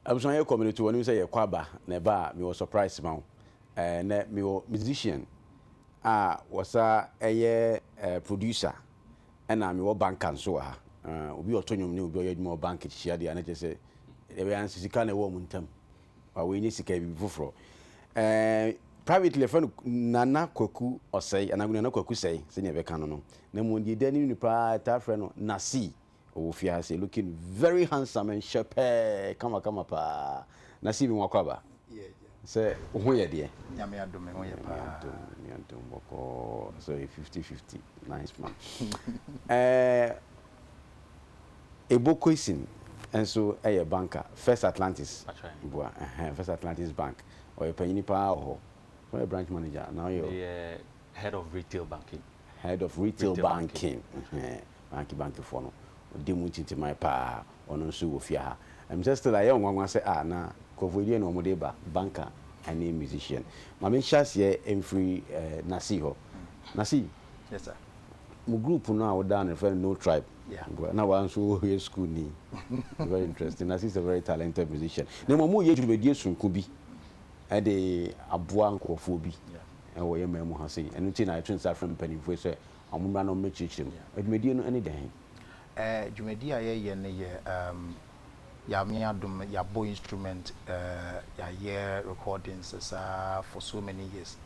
abusua yɛ community wɔn sɛ yɛ kɔ aba na ɛba a mewɔ surprise ma wo ɛɛ na mewɔ musician a wɔsa ɛyɛ ɛɛ producer ɛna mewɔ banka nso wɔ ha ɛɛ obi ɔtɔ nnwom ne obi ɔyɛ adwuma wɔ bank hyia deɛ ɛna kyɛ sɛ ɛbɛyɛ ansisika na ɛwɔ wɔn ntam ma woenya sika yɛ biribi fofor. Ɛɛ privately yɛfrɛ no Nana Kwaku Ɔsɛe anaa Nana Kwaku Sɛe sɛnea yɛbɛka no no. Na mbom deɛ edi anim no paa yɛtaa frɛ no Nasii. Ɔwɔ fie ha sei looking very handsome and hyɛpɛɛ kamakama paa. Nasii me nwa kwaba sɛ wo ho yɛ deɛ? Nyame adom me ho yɛ paa. Nyame adom Nyame adom bɔkɔɔ sɛ ɔyɛ fifty fifty nice man. Ɛɛ Ebo Koisin nso yɛ banka, First Atlantis boa, ɛhɛn, First Atlantis Bank, ɔyɛ panyini pa ara wɔ hɔ. Sɛ ɔyɛ branch manager anaa ɔyɛ. Meyɛ head of retail banking. Head of retail banking, ɛhɛn, banki bankifoɔ no, ɔdi mu ntintiman pa ara, ɔno nso wɔ fie ha. Ɛm sɛ still ayɛ wo nwanwa sɛ ah na nkurɔfoɔ yi deɛ na wɔde reba, banka ne musician. Ma menhyɛ aseɛ mfiri Nasii hɔ. Nasii. Yes sir. Mo group no a wo daa no yɛfrɛ no no tribe Yeah. na waa nso wo yɛ school ni very interesting na she's a very talented musician na mmom mo yɛ dwumadie sonko bi ɛde aboa nkurɔfoɔ bi Yeah. ɛwɔ yɛ man mu ha sei ɛno nti na yɛto nsa frɛ mpanimfoɔ yi sɛ ɔmo mmra na ɔmo mmɛkyerɛkyerɛ mu adwumadie no ɛne dɛn Eh, dwumadi a yɛyɛ no yɛ um, Nyame adom no yɛabɔ instrument eh, yɛayɛ recordings saa for so many years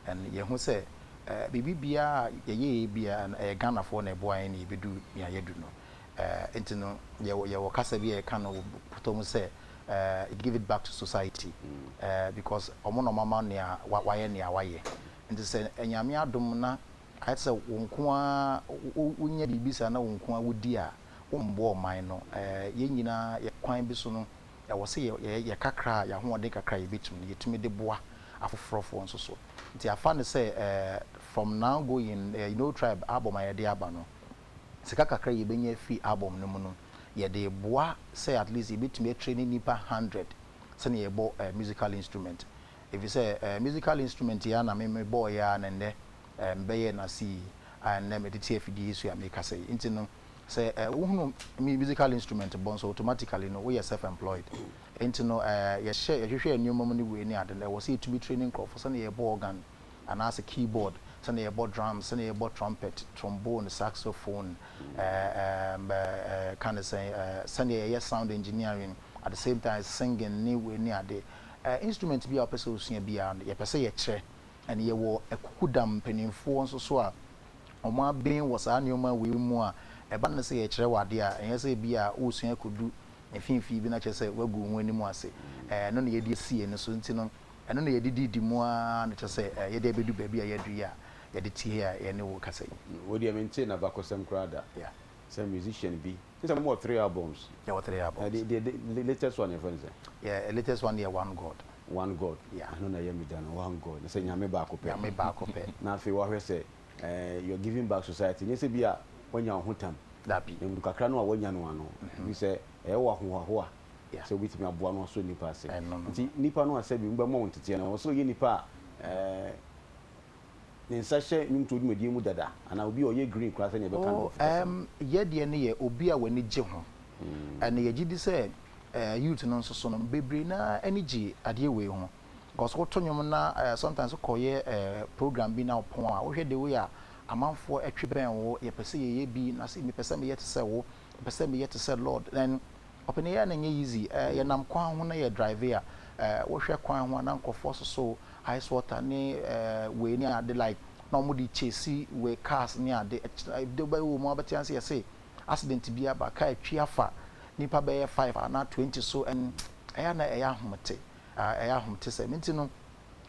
and yɛhu sɛ eh, biribi biara a yɛyɛɛ biara no ɛyɛ Ghanafoɔ na ɛboa yɛn na yɛbɛdu nea yɛadu no eh, nti no yɛwɔ, yɛwɔ kasa bi a yɛka no wɔ pɔtɔ mu sɛ eh, give it back to society eh, because ɔmo na ɔmama nea wa- wayɛ nea wayɛ nti sɛ eh, Nyame adom na Ayɛ te sɛ wo nko ara wonya biribi saa na wo nko ara wodi a, wommboa ɔman no. Yɛn nyinaa yɛ kwan bi so no, ɛwɔ sɛ yɛyɛ kakra a yɛn ahoɔden kakra a yebetumi no, yetumi de boa afoforɔfoɔ nso so. Nti afa no sɛ from now going, you know Tribe album a yɛde aba no, sika kakra a yebenya afi album no mu no, yɛde reboa sɛ at least yebetumi atraini nnipa hundred sɛnea yɛbɔ musical instrument. Efisɛ ɛɛ musical instrument yi ara na me mebɔɔ yɛ ara na nnɛ ɛɛ mebɛyɛɛ no ase yi a nnɛ mede te afidie yi so a merekasa yi. Nti no sɛ ɛɛ wohunu mu musical instrument bɔ nso automatically no woyɛ self employed. Nti no ɛɛ yɛhyɛ yɛhwehwɛɛ nneɛma mu ne wei ne ade no ɛwɔ sɛ yɛtumi traini nkurɔfo sɛdeɛ yɛbɔ organ anaasɛ keyboard, sɛdeɛ yɛbɔ drums, sɛdeɛ yɛbɔ trumpet, trombone, saxophone, ɛɛ ɛɛm ɛɛ ɛɛ ka ne sɛn ɛɛ sɛdeɛ yɛyɛ sound engineering at the same time singing ne wei ne ade. Ɛ instrument bi a wopɛ sɛ wosua biara no, yɛpɛ sɛ yɛkyerɛ. And yɛwɔ akukudam mpanimfoɔ nso so a wɔaben wɔ saa nneɛma wei mu a ɛba no sɛ yɛkyerɛ wo adeɛ a, ɛnyɛ sɛ bi a woresua akɔdu mfimfini bi na kyerɛ sɛ woagu wo ho anim ase. Ɛ ɛno na yɛde asi yɛn ani so. Nti no, ɛno na yɛde didi mu ara na kyerɛ sɛ ɛ yɛde abɛdu baabi a yɛadu yi a, yɛde te he a yɛne wo rekasa yi. Wo deɛ mentee n'abakɔsɛm koraa da Yeah. sɛ musician bi. N sɛ mo wɔ three albums. Yɛwɔ three albums. Ɛɛ deɛ deɛ the latest one yɛ fɛ no sɛ. Yɛ the latest one yɛ one God. One God. Yeah. Ɛno na ɛyɛ mi da no one God sɛ nyame baako pɛ. Nyame baako pɛ. Na afei wahwɛ sɛ ɛɛ you are giving back society nyɛ sɛ bi a wanya wo ho tam. Dabi. Na mu kakra no a wanya no ano bi sɛ ɛyɛ wɔ ahohoahoa. Yeah. Sɛ wobɛtumi aboa no asɔ nipa ase. Ɛno no. Nti nipa no a sɛbi mo bɛ mɔ wo nteteɛ no ɛwɔ sɛ ɔyɛ nipa a ɛɛ. ne nsa hyɛ nnwomtoɔ dwumadie mu dada anaa obi a ɔyɛ green koraa sɛdeɛ ɛbɛka no wɔ Afrika fam? Oh, yɛ deɛ no yɛ obi a w'ani gye ho. Ɛna yɛgye di sɛ eh, youth no nso so no, bebree no ara ani gye adeɛ wei ho. Because woto nnwom na eh, sometimes wokɔyɛ eh, program bi na wopɔn a, wohwɛ the way a amanfoɔ ɛtwe bɛn wo, yɛpɛ sɛ yɛyɛ bi, na sɛ mepɛ sɛ meyɛ te sɛ wo, mepɛ sɛ meyɛ te sɛ Lord. Then Ɔpɛn yi a na ɛnyɛ easy, eh, yɛnam kwan ho na yɛ drive a, eh, wohwɛ kwan ho a na nkurɔfoɔ soso ice water ne eh, wei ne ade like na wɔn de chase wei cars ne ade, ɛde bɛyɛ wɔ mu a bɛte ase yɛse accident bi aba, car atwi afa nipa bɛyɛ five anaa twenty so and ɛyɛ a na ɛyɛ ahomete, ah, ɛyɛ ahomete sɛ nti no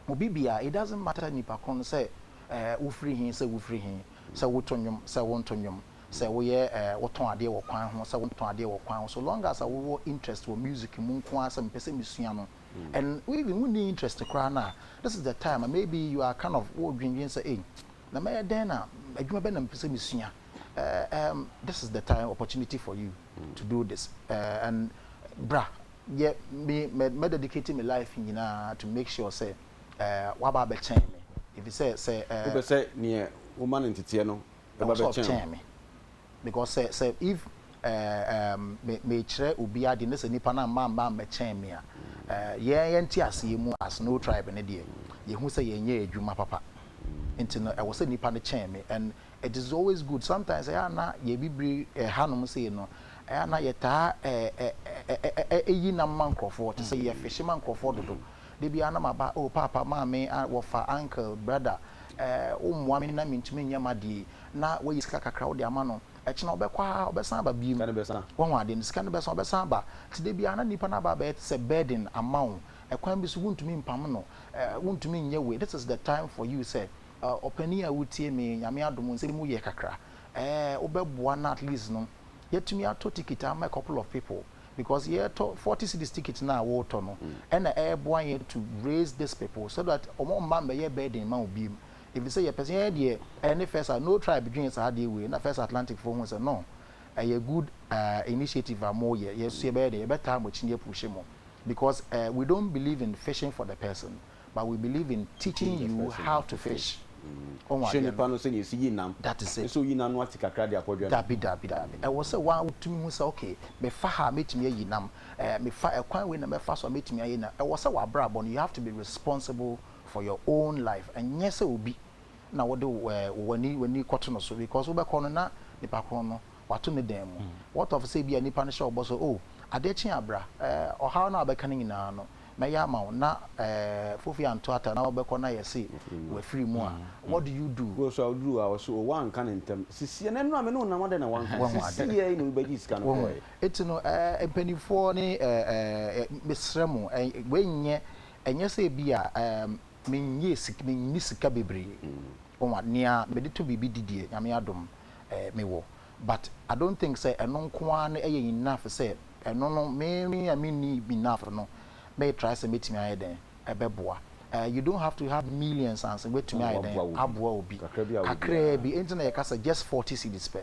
obi biara it doesn't matter nipa koro no sɛ eh, wofiri he sɛ wofiri he, sɛ woto nnwom sɛ wonto nnwom. sɛ woyɛ ɛɛ wotɔn adeɛ wɔ kwan ho sɛ wontɔn adeɛ wɔ kwan ho so long as a wowɔ interest wɔ music mu nko ara sɛ mepɛ sɛ mesua no and wo even wonni interest koraa no a this is the time a maybe you are kind of wodwendwen sɛ ei na mɛyɛ dɛn na adwuma bɛn na mepɛ sɛ mesua ɛɛ um, this is the time opportunity for you to do this ɛɛ and bra yɛ me mɛ mɛ dedicate me life nyinaa to make sure sɛ ɛɛ waba abɛkyɛn me efisɛ sɛ ɛɛ. wopɛ sɛ neɛ woma no nteteɛ no Ɛba bɛkyɛn wo. Kyɛn me because sɛ sɛ if ɛɛm me kyerɛ obi ade ne sɛ nipa no amma amma ammɛkyɛn me a ɛɛ yɛn te aseɛ mu as no tribe no deɛ yɛ hu sɛ yɛ nyɛ adwuma papa nti no ɛwɔ sɛ nipa no kyɛn me and it is always good sometimes ɛyɛ a na yɛ bibire ɛha nom sei no ɛyɛ a na yɛ taa ɛɛ ɛɛ ɛyi nam ma nkorɔfoɔ te sɛ yɛ fihye ma nkorɔfoɔ dodo. Da biara na maba, oh Paapa, Maame, ah, wɔfa, Uncle, Brother, eh, wommoa me na mentumi nyɛ m'adeɛ yi, na woayi sika kakra wode ama no, ɛkye no ɔbɛkɔ ara, ɔbɛsan aba biom, wahu adeɛ no, sika no bɛsan, ɔbɛsan aba, nti da biara na nipa no aba abɛyɛ te sɛ burden ama wo, ɛkwan bi so wontumi mpam no, eh, wontumi nyɛ wei, this is the time for you sɛ, eh, ɔpanin a wotie me, Nyame adom wo nsam yɛ kakra, eh, wobɛboa no at least no. yɛatumi atɔ ticket ama a couple of people because yɛtɔ forty cities ticket no a wotɔ no ɛna ɛboa yɛn to raise this people so that wɔn mma mmɛyɛ burden ma wo biem ɛfiri sɛ yɛpɛ sɛ yɛn deɛ ɛyɛ ne first a no tribe dwen saa adeɛ wei na first Atlantic foɔ hu sɛ no ɛyɛ good uh, initiative a moyɛ yɛso yɛbɛyɛ deɛ yɛbɛtaa mo akyi ne yɛpuhye mo because uh, we don't believe in fishing for the person But we believe in teaching you how to fish. Ɔhu adeɛ no. Hyɛ nipa no sɛdeɛ yɛsi yi nam. That is it. Sɛ oyi nam no wate kakra de akɔdwɛ no. Dabi dabi dabi. Ɛwɔ sɛ waa wotumi hu sɛ okay mefa ha a mɛtumi ayi nam. Ɛɛ mefa ɛkwan wei na mɛfa so a mɛtumi ayi nam. Ɛwɔ sɛ wabrabɔ no you have to be responsible for your own life. Ɛnyɛ sɛ obi na wode ɛɛ wani wani kɔto no so because wobɛkɔ no na nipa korɔ no wato ne dan mu. What of sɛ ebia nipa no hyɛ wo bɔ sɛ, oh, adeɛ kye a bra, eh, ɔhaw no a wobɛka no nyinaa no, mɛyɛ ama wo, na, eh, Fofi anto ataa na wobɛkɔ na yɛse wafiri mu a, what do you do? Wokɔ so a, woduru hɔ a, wɔse, oh, woanka no ntɛm, sisiɛ, na nnora me ne wo nam adɛn na woanka, sisiɛ yi na obi bɛgye sika no kɔeɛ. Wahu? Enti no, eh, mpaninfoɔ ne, eh, eh, mesrɛ mo, eh, wei nyɛ, ɛnyɛ sɛ ebia, eh, menyɛɛ sik, menni sika bebree, wahu, nea mede tɔ biribi di deɛ, Nyame adom. eh me wɔ but I don't think sɛ ɛno nko ara no yɛ enough sɛ ɛno no me me a me nni enough no mɛ try sɛ mɛtumi ayɛ dɛn ɛbɛboa eh you don't have to have millions ansa wɛtumi ayɛ dɛn aboa obi kakraa bi ɛnti na yɛka sɛ just forty cedis pɛ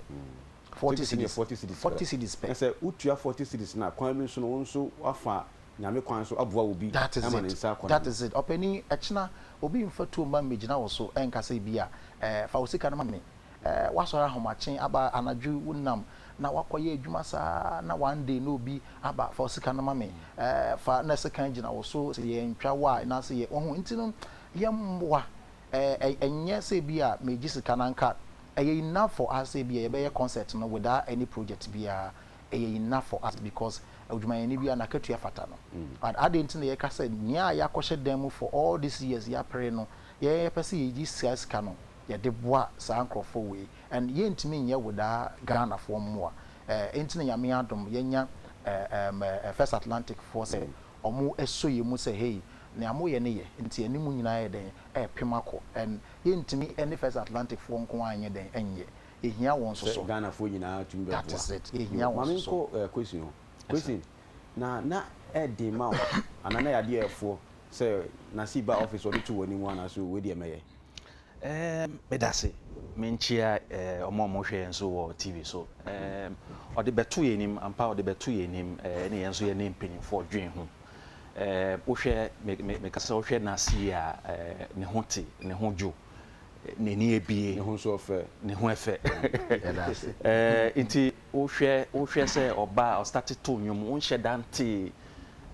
forty cedis forty cedis pɛ sɛ wotua forty cedis na kwan bi nso no wo nso wafa nyame kwan so aboa obi that is it that is it ɔpɛni ɛkyena obi nfa tuo mma mmɛgyina wo so ɛnka sɛ bi a eh fa wo sika no ma me eh, woasɔre ahomakye aba anadwo wonam na woakɔyɛ adwuma saa na one day na obi aba fa sika no ma me eh, fa na sekan gyina wo so sɛ yɛntwa wo a na sɛ yɛ wahu nti no yɛmmoa eh, ɛnyɛ sɛ bi a megye sika no anka ɛyɛ enough for us sɛ bi a yɛbɛyɛ concert no without any project biara ɛyɛ enough for us because odwumayɛni biara n'akatua fata no mm. but adɛn nti na yɛka sɛ nea yɛakɔhyɛ dan mu for all these years yɛapere no yɛpɛ sɛ yɛgye sika sika no yɛde boa saa nkorɔfoɔ wei and yɛntumi nyɛ without Ghanafoɔ mmoa eh, enti na Nyame adom yɛanya eh ehm eh First Atlantic foɔ sɛ ɔmo sɔ yɛn mu sɛ hey nea moyɛ no yɛ nti yɛne mo nyinaa ayɛ dɛn ɛrepem akɔ and yɛntumi ne First Atlantic foɔ nko ara nyɛ dɛn nyɛ, yɛhia wɔn nso Sɛ so. Ghanafoɔ nyinaa tumi bɛboa. That is it, yɛhia Yo, wɔn ma nso so. menkɔ eh question hɔ. Yes sir. Question, Na na ɛyɛ den ma wo anaa na ɛyɛ adeɛ a ɛfoɔ sɛ Nasib ba office ɔde to w'anim anaasɛ wei deɛ mɛyɛ? Ɛɛm, meda ase. Menkyia ɛɛm, wɔn a wɔhwɛ yɛn nso wɔ TV so. Ɛɛm, wɔde bɛto yɛn anim, ampa wɔde bɛto yɛn anim, ɛɛ, ne yɛn nso yɛne mpanimfoɔ dwen ho. Ɛɛm, wohwɛ, me, me, meka sɛ wohwɛ Nasi yi a, ɛɛ, ne ho te, ne ho dwo, n'ani abie. Ne ho nso ɔfɛ. Ne ho ɛfɛ. Yɛda ase. Ɛɛ, nti wohwɛ, wohwɛ sɛ ɔba a, ɔstate to nnwom, wonhyɛ da ntee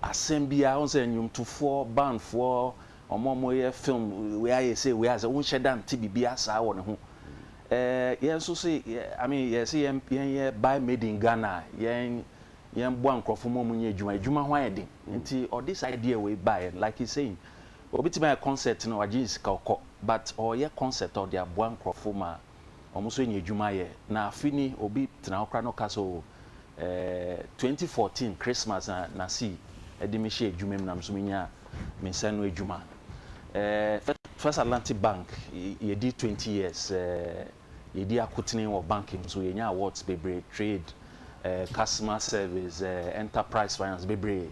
asɛm biara, wohu sɛ nnwomtofoɔ, bandfoɔ, Wɔn a wɔyɛ film wei ayɛ sei wei ayɛ sei wonhyɛ da nte biribiara saa wɔ ne ho. Ɛɛ yɛn nso se I mean yɛse yɛn yɛnyɛ buy made in Ghana a yɛn yɛmboa nkurɔfo ma wɔnyɛ adwuma. Adwuma ho ayɛ den nti ɔde saa idea wei baeɛ. Like he's saying obetumi ayɛ concert no wagye ne sika ɔkɔ but ɔreyɛ concert a ɔde aboa nkurɔfo ma wɔn nso nya adwuma yɛ. Na afe ni obi tena hɔ koraa na ɔka sɛ o eh, 2014 Christmas na na si de me hyɛ adwuma mu na me nso menya me nsa ano adwuma. Eh, First Atlantic Bank yɛdi 20 years, eh, yɛdi akotene wɔ bank mu so, yɛnya awards bebree, trade, eh, customer service, eh, enterprise finance bebree.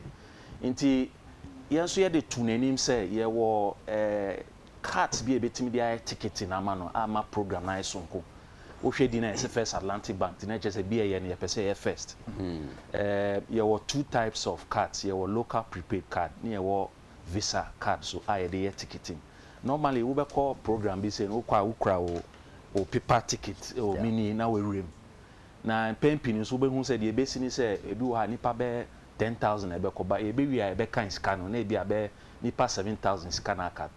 Nti yɛn nso yɛde to n'anim sɛ yɛwɔ eh, Cart bi a ebetumi de ayɛ tekete no ama no amma program no ayɛ soronko. Wohwɛ din a yɛse First Atlantic Bank din a ɛkyerɛ sɛ bi a ɛyɛ no yɛpɛ sɛ ɛyɛ first. Ɛɛm, yɛwɔ two types of cards, yɛwɔ local prepaid card ne yɛwɔ Visa card nso a yɛde yɛ ticketing. Normally wobɛkɔ program bi sei no wokɔ a wokura wo wo paper ticket wɔ mini na w'awura mu. Na mpɛn pii no nso wobɛhu sɛ deɛ ɛbɛsi ne sɛ ebi wɔ hɔ a nnipa bɛyɛ ten thousand na ɛbɛkɔ ba yɛbɛwie a yɛbɛkan sika no na ebia bɛyɛ nnipa seven thousand sika no aka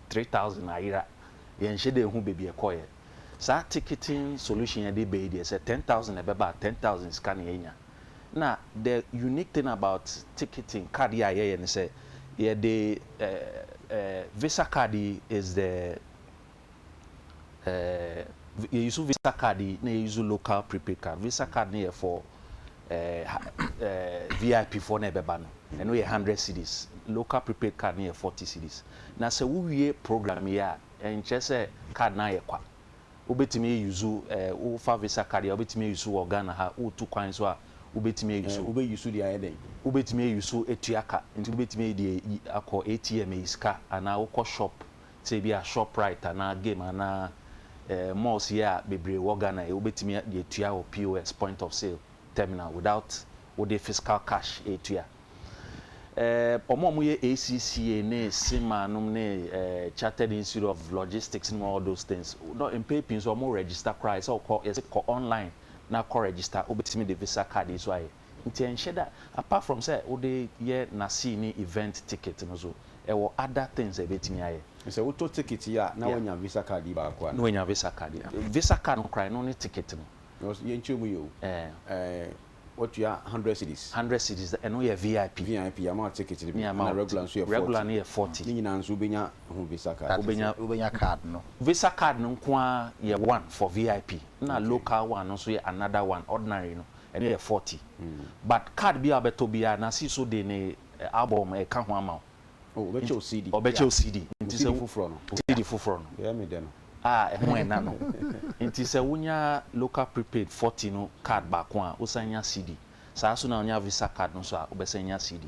three thousand ayera yɛnhyɛ da nhu baabi ɛkɔeɛ saa ticketing solution a yɛde ba yi deɛ sɛ ten thousand na ɛbɛba a ten thousand sika na yɛnya na the unique thing about ticketing card yi a yɛyɛ ne sɛ yɛde eh, eh, visa card yi is the ɛɛ yɛ use visa card yi na yɛ use local prepaid card visa card no yɛ for ɛɛ ɛɛ vip foɔ na ɛbɛba no ɛno yɛ hundred cities local prepaid card no yɛ forty cities na sɛ wowie program yi a ɛnkyɛ sɛ card no ayɛ kwa wobɛtumi yɛ use ɛɛ wofa visa card yi a wobɛtumi yɛ use wɔ ghana ha wotu kwan so a wobɛtumi yɛ use wobɛ use deɛ ayɛ dɛn wobɛtumi yɛ use etua ka nti wobɛtumi yɛ deɛ akɔ atm yɛ sika anaa wokɔ shop sɛ ebi a Shoprite anaa Game anaa eh, malls yi a bebree wɔ Ghana yi, wobɛtumi de atua wɔ POS, Point of Sale Terminal, without wode physical cash retua. Eh, wɔn a wɔyɛ ACCA ne CIMA nom ne eh, Chartered Institute of Logistics nom all those things, no, mpɛn pii nso wɔn register koraa, ɛsɛ wokɔ, yɛsɛ kɔ online na kɔ register, wobɛtumi de Visa card yi so ayɛ. Nti ɛnhyɛ da apart from sɛ wode yɛ Nasee ne event ticket no so ɛwɔ other things a ɛbɛtumi ayɛ. Sɛ wotɔ ticket yi a na wanya visa card yi baako anaa? Na wanya visa card yi. Visa card no koraa ɛno ne ticket no. Because yɛnkyerɛ mu yɛ o. Ɛɛ watua hundred cedis. Hundred cedis ɛno yɛ VIP. VIP yɛama wo ticket no bi ɛna regular nso yɛ forty. Regular no yɛ forty. Ne nyinaa nso wobɛnya ho visa card. Wobɛnya wobɛnya card no. Visa card no nko ara yɛ one for VIP ɛna local one no nso yɛ another one, ordinary no ɛno yɛ forty but card biaa wobɛtɔ biaa nase so de ne album ɛka ho ama wo Oh ɔbɛkyɛ wo CD ɔbɛkyɛ wo CD Wo nti sɛ CD foforɔ no wo CD foforɔ no Yɛ me dɛ no a ɛho ɛna no nti sɛ wonya local prepaid forty no card baako a wosan nya CD saa nso na wonya visa card no nso a wobɛsan nya CD.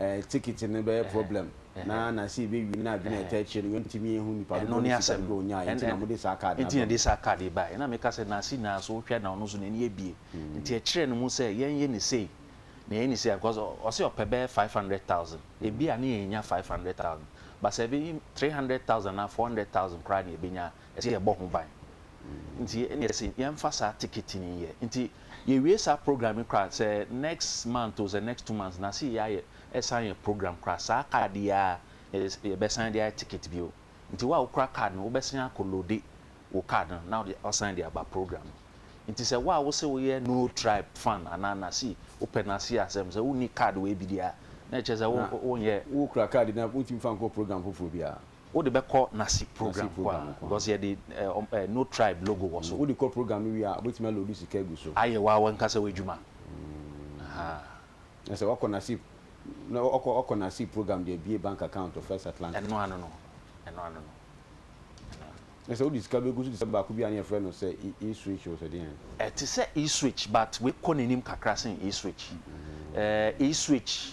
eh, ticket no bɛyɛ problem na na sɛ yɛbɛwie no adwene a ɛtaa akyire no yɛntumi nhu nnipa dodoɔ ne sika dodoɔ ɔnyaeɛ nti na mode saa card no aba mu. Nti na yɛde saa card yi baeɛ. Na meka sɛ Nancy nyinaa so wohwɛ na ɔno nso n'ani abue. Nti ɛkyerɛɛ no mu sɛ yɛnyɛ no sei na yɛnyɛ no sei a because ɔse ɔpɛ bɛyɛ five hundred thousand. Ebia ne yɛnnya five hundred thousand but sɛ ɛbɛyɛ three hundred thousand anaa four hundred thousand koraa na yɛbɛnya a ɛsɛ yɛbɔ ho ban. Nti ɛne yɛse yɛmfa saa ticket no nyɛ. Nti yɛwie saa program yi koraa sɛ next month o, sɛ next two months na se yɛayɛ ɛsan yɛ program koraa saa card yi ara na yɛbɛsan de ayɛ ticket bio. Nti wo a wokura card no wobɛsan akɔ loade wo card no na wode asan de aba program no. Nti sɛ wo a wose woyɛ No Tribe fan anaa Nasi wopɛ Nasi asɛm sɛ wonni card wei bi deɛ a na ɛkyerɛ sɛ wonyɛ. Wokura card no a wontumi mfa nkɔ program foforɔ biara. Wode bɛkɔ Nasi program kɔ a, because yɛde ɛ No Tribe logo wɔ so. Wode kɔ program no wie a, wobɛtumi aloodu sika agu so. Ayɛ wo ankasa w'adwuma. Ahaa. Na sɛ woakɔ Nasi, na woakɔ, woakɔ Nasi program de abue bank account wɔ First Atlantic. Ɛno ano no, ɛno ano no, ɛno ano no. Na sɛ wode sika bɛgu so te sɛ baako bi a na yɛfrɛ no sɛ E-Switch o, sɛ deɛn? Ɛte sɛ E-Switch but wei kɔ n'anim kakra sen E-Switch. Ɛɛ E-Switch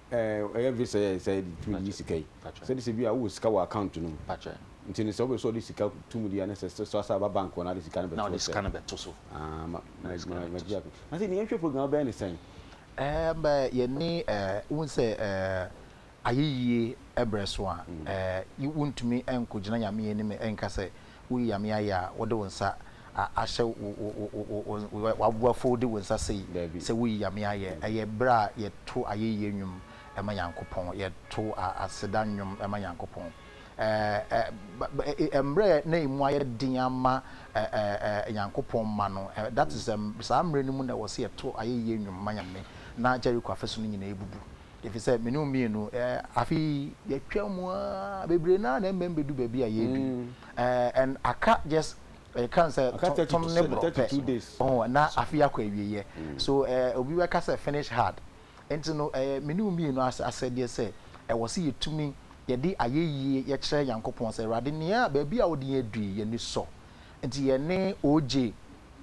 Eh ɛyɛ visa yɛ sɛ tumi yi sika yi sɛ de sɛ bi a wowɔ sika wɔ account no mu nti no sɛ wopɛ sɛ ɔde sika to mu deɛ ne sɛ sɛ asa aba bank hɔ na ade sika no bɛto sɛ ah ma ma magye ato na sɛ nea nhwɛ program bɛyɛ ne sɛn. Ɛɛm eh yɛne eh wohu sɛ eh ayeyie brɛ so a eh wontumi nkɔgyina Nyame anim nka sɛ Woyi ame ayɛ a wode wo nsa ahyɛ w'aboa fo wode wo nsa sei sɛ woyi ame ayɛ. Ɛyɛ berɛ a yɛto ayɛyie nnwom ma Nyankopɔn. Yɛto aseda nnwom ma Nyankopɔn. Mmerɛ na ɛmu ayɛ den ama Nyankopɔn mma no, that is saa mmerɛ no mu na ɛwɔ sɛ yɛto ayɛyie nnwom ma Nyame na Jericho afasuo no nyinaa bubu. Efisɛ me ne wo mmienu, eh, afe yi yɛatwa mu ara bebree no ara na ɛmmɛn bɛdu baabi a yɛredu yi. Eh, and aka just ɛka sɛ Aka tɔ- 32 tɔm ne sɛ- borɔ 32 pɛ. days. Oh, na afe yi akɔ awieeɛ. So eh, obi bɛka sɛ finish hard. Nti no, eh, me ne wo mmienu as- asɛdeɛ sɛ ɛwɔ sɛ yɛtumi yɛde ayɛyie yɛkyerɛ Nyankopɔn sɛ, Awurade, nea baabi a wode yɛn adu yi, yɛn ani sɔ. Nti yɛne OJ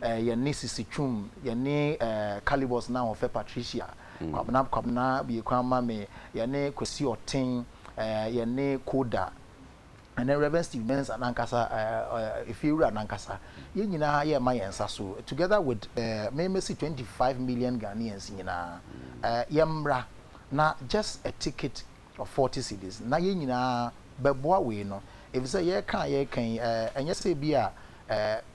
eh, yɛne Sisi Twum, yɛne eh, Calibus na wɔfɛ Patricia, Kwabena Kwabena bie kwan ma me, yɛne Kwesi Ɔten, eh, yɛne Koda, ɛne Rev. Steve Mensah nankasa, eh, eh, Efiewura nankasa. Yɛn nyinaa yɛma yɛn nsa so, together with eh, me mɛsi 25 million Ghanaians nyinaa. Eh, yɛmmra na just a ticket Forty cedis, na yɛn nyinaa bɛboa wei no, efisɛ yɛreka a yɛreka yi, ɛnyɛ sɛ ebia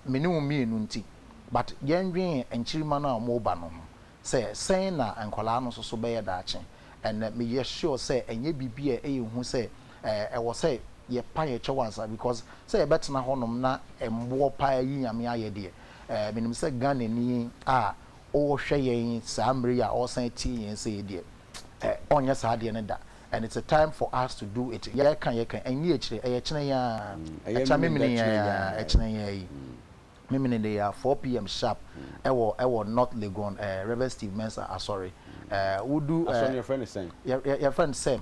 me ne wo mmienu nti, but yɛndwen nkyirimma no a wɔreba no ho, sɛ sɛn na nkwadaa no nso so bɛyɛ daakye. And meyɛ sure sɛ ɛnyɛ biribi a ɛyɛ hu sɛ ɛwɔ sɛ yɛpa yɛn kyɛw ansa, because sɛ yɛbɛtena hɔnom na mmoɔ paa ayi Nyame ayɛ deɛ, menim sɛ Ghanani a ɔrehwɛ yɛn saa mmerɛ yi a ɔresan atie yɛn sei deɛ, ɛ ɔnyɛ saa adeɛ no da and it's a time for us to do it yɛka yɛka ɛnye akyire ɛyɛ kyene yi aa ɛkya memene yi aa ɛkyene yi aa yi memene de aa 4 pm sharp ɛwɔ ɛwɔ north legon ɛ rev steve mensah asɔre ɛ wodu ɛ asɔre no yɛfrɛ no sɛn yɛfrɛ no sɛm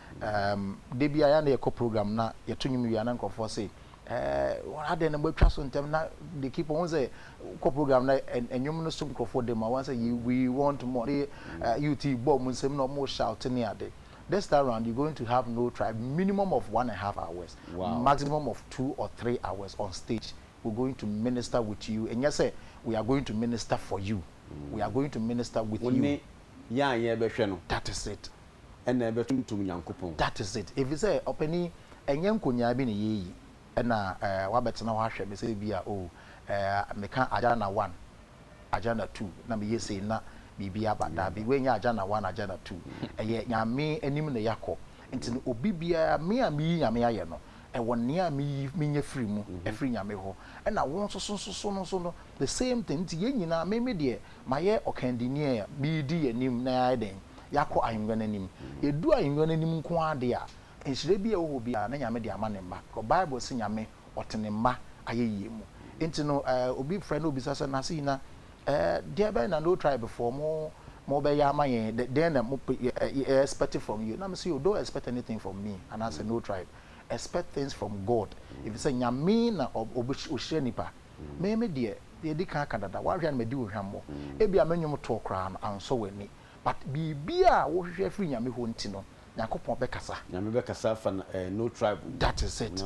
Erm da biara yɛa na yɛkɔ program na yɛto nnwom wie a na nkurɔfoɔ se Erm adɛn na moatwa so ntɛm na they keep on wohu sɛ wokɔ program na nnwom no so nkurɔfoɔ dam a wohu sɛ you we want more ne eh, you ti bɔ wɔn nsam na wɔn shout ne ade this time round you going to have no tribe minimum of one and a half hours Wow. maximum of two or three hours on stage we going to minister with you ɛnyɛ sɛ we are going to minister for you we are going to minister with Wo you ne yɛn a yɛrebɛhwɛ no. That is it. Ɛna ɛbɛtontom Nyankopɔn. That is it. Efisɛ, ɔpanin, ɛnyɛ nkonyaa bi na yɛreyi, ɛna ɛɛ wabɛtena hɔ ahwɛ me sɛ ebia oh ɛɛ meka agenda one, agenda two, na meyɛ sei na biribi aba. Dabi, wei nyɛ agenda one, agenda two. Ɛyɛ Nyame anim na yɛakɔ. Nti no, obi biara, me a meyi Nyame ayɛ no, ɛwɔ nea meyi, menya firi mu, ɛfiri Nyame hɔ. Ɛna wo nso so nso so no nso no, the same thing. Nti yɛn nyinaa, me, me deɛ, Mayɛ ɔkandini a meredi yɛn anim na yɛayɛ dɛn? Yɛakɔ ahengua no anim. Yɛdu ahengua no anim nko ara deɛ a, nhyira biara a ɛwɔ hɔ biara na Nyame de ama Ne mma. Because Bible se Nyame ɔte Ne mma ayɛyie mu. Nti no eh, obi frɛ na obisa sɛ, Nurse Yina, eh, deɛ bɛn na No Tribe foɔ mo, mo bɛyɛ ama yɛn? Dɛ, dɛn na mo pe, yɛ, yɛ, yɛ expect from you? Na mese, oh, don't expect anything from me anaasɛ No Tribe. Expect things from God. Efisɛ Nyame na ɔ, ɔbɛ, ɔhyira nipa. Me me deɛ, yɛdi kan aka dada, w'ahwɛ a na madi wo hwammɔ. Ebia me nnwom toɔ koraa no ansɔ w'ani, but biribiara a wohwehwɛ afiri Nyame hɔ nti no, Nyankopɔn bɛkasa. Nyame bɛkasa afa no eh, no tribe mu. That is it.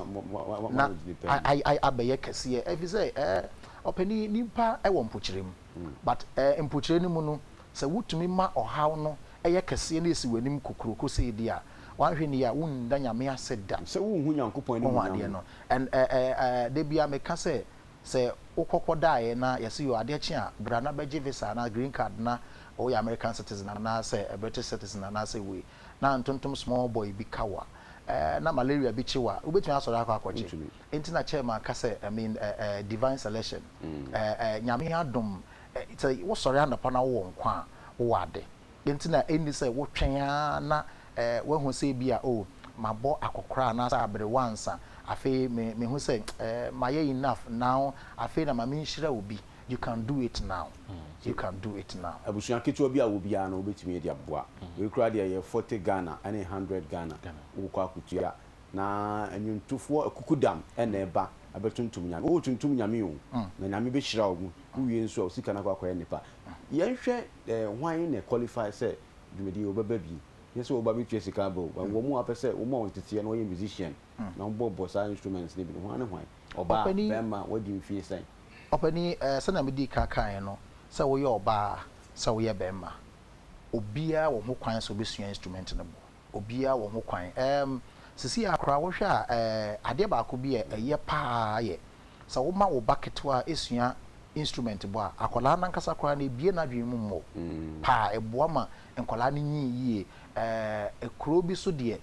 Na I, I, abɛyɛ kɛseɛ, efisɛ eh, ɔpanin, nipa wɔ mpokyerɛ mu, but eh, mpokyerɛ no mu no, sɛ wotumi ma ɔhaw no yɛ kɛseɛ na esi w'anim kokuroko sei deɛ a, w'anhwɛ nie a, wonna Nyame ase da. Sɛ wonhu Nyankopɔn animuonyam no. And eh eh eh da biaa me ka sɛ sɛ wo kɔ kɔ daeɛ na yɛse yoo adeɛ kye a bra na bɛgye visa anaa green card na woyɛ American citizen anaa sɛ British citizen anaa sɛ wei na ntontom small boy bi ka wo a eh na malaria bi kye wo a wobɛtumi asɔre akɔ akɔgye enti na chairman ka sɛ I mean eh eh divine selection eh eh Nyame adom eh sɛ wo sɔre anɔpa na wo wɔ nkwa a wo wɔ ade enti na ɛnni sɛ wo twɛn aa na woahu sɛ ebia, oh, mabɔ akɔkora anaasɛ aberewa ansa. Afei me, mehu sɛ, eh, mayɛ enough now, afei na ma menhyira obi. You can do it now. You can do it now. Abusua ketewa bi a wɔ biara no, wobɛtumi de aboa. Wei koraa deɛ ɛyɛ forty Ghana ne hundred Ghana. Wokɔ akɔtua. Na nnwontofoɔ akukudam na ɛba bɛtontom Nyame. Woretontom Nyame o, na Nyame bɛhyira wo. Wowie nso a, wo sika no akɔ akɔyɛ nnepa. Yɛnhwɛ, eh, hwan na ɛqualify sɛ dwumadie wɔ bɛba bi nyɛ sɛ wɔba bɛtua sika aba o but wɔn mu a wɔpɛ sɛ wɔn a wɔteteɛ na wɔyɛ musician na wɔbɔbɔ saa instruments no bi no hwan ne hwan? Ɔbaa, Ɔpanin. bɛrima, wadi mfeɛ sɛn? Ɔpanin, eh, sɛdeɛ medii kan kaeɛ no, sɛ woyɛ ɔbaa, sɛ woyɛ bɛrima, obiara wɔ ho kwan sɛ ɔbɛsua instrument no bɔ. obiara wɔ ho kwan. Ɛɛm, seesei ara koraa wohwɛ a, ɛɛ, adeɛ baako bi a ɛyɛ pa ara yɛ sɛ woma wo ba ketewa sua instrument bɔ a, akwadaa no ankasa koraa no, ɛbue n'adwene mu mmɔ pa ara. Ɛboa ma nkwadaa no nyin yie. Ɛɛ, kuro bi so deɛ,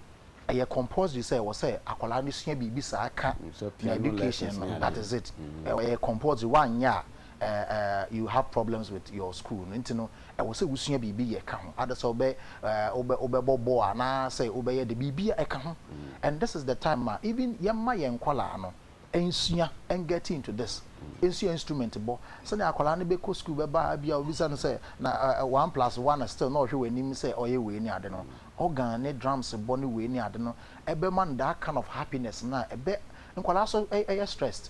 ɛyɛ compulsory sɛ ɛwɔ sɛ akwadaa no sua biribi saa ka ne education no, that is it. Ɛyɛ compulsory, woanyɛ a, eh eh you have problems with your school no nti no ɛwɔ sɛ wo sua biribi yɛ ka ho adesɛ wobɛ eh wobɛ wobɛ bɔ bɔɔl anaa sɛ wobɛ yɛ de biribi a ɛka ho and this is the time ma even yɛ ma yɛn nkɔlaa no nsua and get into this nsua instrument bɔ sɛnea akɔlaa no bɛ kɔ school bɛ ba a bi a obisa no sɛ na eh eh one plus one still na ɔhwɛ w'anim sɛ ɔyɛ wei ne ade no organ ne drums bɔ ne wei ne ade no ɛbɛ ma no that kind of happiness na ɛbɛ nkɔlaa so ɛyɛ stressed.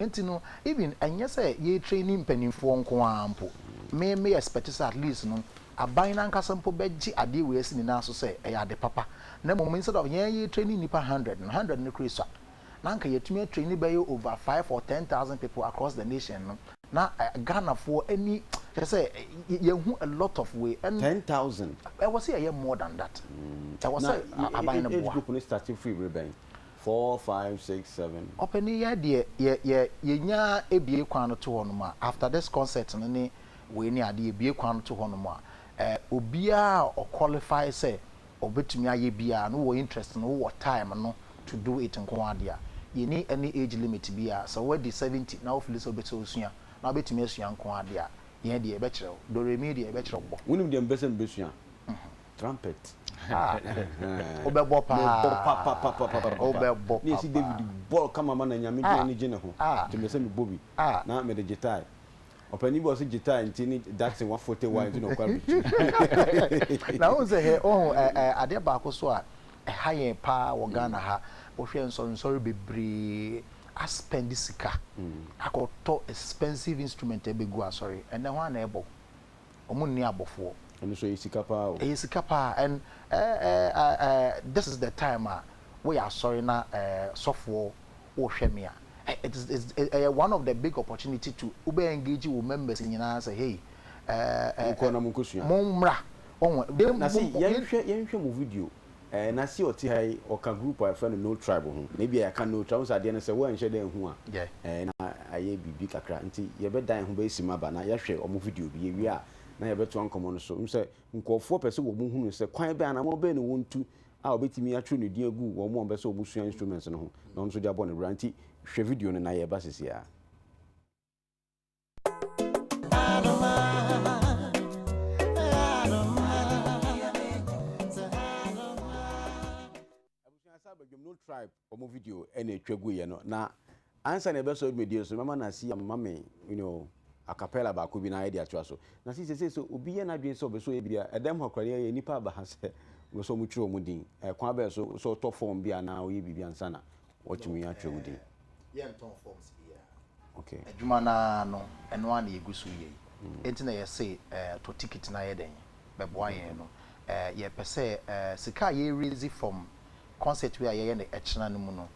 Nti no even ɛnyɛ sɛ yɛ traini mpaninfoɔ nko ara mpo, me me expect sɛ at least no aban no ankasa mpo bɛgye adeɛ wei asi ne nan so sɛ ɛyɛ ade papa na mmom instead of yɛn yɛ traini nnipa hundred no, hundred no koraa sua na anka yɛatumi atraini bɛyɛ over five or ten thousand people across the nation no na Ghanafoɔ ani kyerɛ sɛ yɛahu a lot of wei ɛn Ten thousand? ɛwɔ sɛ yɛyɛ more than that, ɛwɔ Na sɛ aban no age boa. group no starte firi bere bɛn? four five six seven. Ɔpanin yɛ deɛ yɛ yɛ yɛnya bue kwan no to hɔ nom a after this concert no ne wei ne adeɛ yɛ bue kwan no to hɔ nom a eh obiara a ɔ qualify sɛ ɔbɛtumi ayɛ biara no wɔ interest no wowɔ time no to do it nko ara deɛ a yɛnni any age limit biara sɛ woadi seventy na wo fili sɛ wobɛ sɛ wosua na wobɛtumi asua nko ara deɛ a yɛn deɛ yɛbɛkyerɛ wo doremi deɛ yɛbɛkyerɛ wo bɔ. Wonim deɛ mepɛ sɛ mebɛsua? trumpet ah wobɛbɔ paa mebɔ papapapapa wobɛbɔ ne ɛsi david bɔl kama ma na nyame gyina ne gye ne ho nti mɛ sɛ mebɔ bi na mede gyetae ɔpani bi ɔse gyetae nti ne datse wafote wa nti na ɔkɔ abɛtu na wohu sɛ hɛ ɔhu adeɛ baako so a ɛha yɛn paa wɔ Ghana ha wohwɛ nsɔrensɔre bebree aspɛnde sika akɔtɔ expensive instrument ɛbɛgu asɔre ɛnɛ hɔ a na ɛbɔ ɔmo nni abɔfoɔ. Ɛno nso ɛyɛ sika paa o. Ɛyɛ sika paa and eh eh ah eh this is the time a woyɛ asɔre na eh sɔfoɔ wohwɛ me a eh it is is ɛyɛ one of the big opportunity to wobɛ engage wo members nyinaa sɛ hey eh eh Monkɔ na monkɔsua. mommra wɔho. Na se yɛnhwɛ yɛnhwɛ mo video. Eh, na si ɔte ha yi, ɔka group a yɛfrɛ no No Tribe ho, na ebia yɛaka No Tribe, wohu sɛ adeɛ no sɛ woanhyɛ da anhu a, eh, na ayɛ biribi kakra, nti yɛbɛdan ho bɛyɛ simma ba, na yɛahwɛ wɔn video bi, yɛwie a, na yɛbɛtoa nkɔmmɔ no so. Wohu sɛ nkurɔfoɔ pɛ sɛ wɔhunu sɛ kwan bɛn, anammɔn bɛn na wɔntu a wɔbɛtumi atwerɛ ne din agu wɔn a wɔbɛ sɛ wɔsua instruments no ho, na wɔn nso de abɔ no bra. Nti hwɛ video no, na yɛreba seesei ara. tribe wɔn video ɛna atwa gu yɛ no na ansa na ɛbɛsɔ dwumadie so mɛma na si ama me you know acapella baako bi na ayɛ de atoa so na si sese so obi yɛ n'adwene sɛ ɔbɛsɔ ebi a ɛdɛm hɔ akora yɛ nipa aba ha sɛ wɔsɔ wɔn twerɛ wɔn din ɛkwan bɛyɛ so sɛ ɔtɔ fɔm bi anaa ɔyɛ biribi ansa na wɔatumi atwa wo din. Yɛntɔn forms biara. Ok. Adwuma no ara no, ɛno ara na yɛgu so reyɛ yi. Enti na yɛse tɔ ticket na yɛ dɛn? Bɛboa yɛn no. Yɛpɛ sɛ sika a yɛ raise from concert wei a yɛyɛ no ɛkyena no mu no,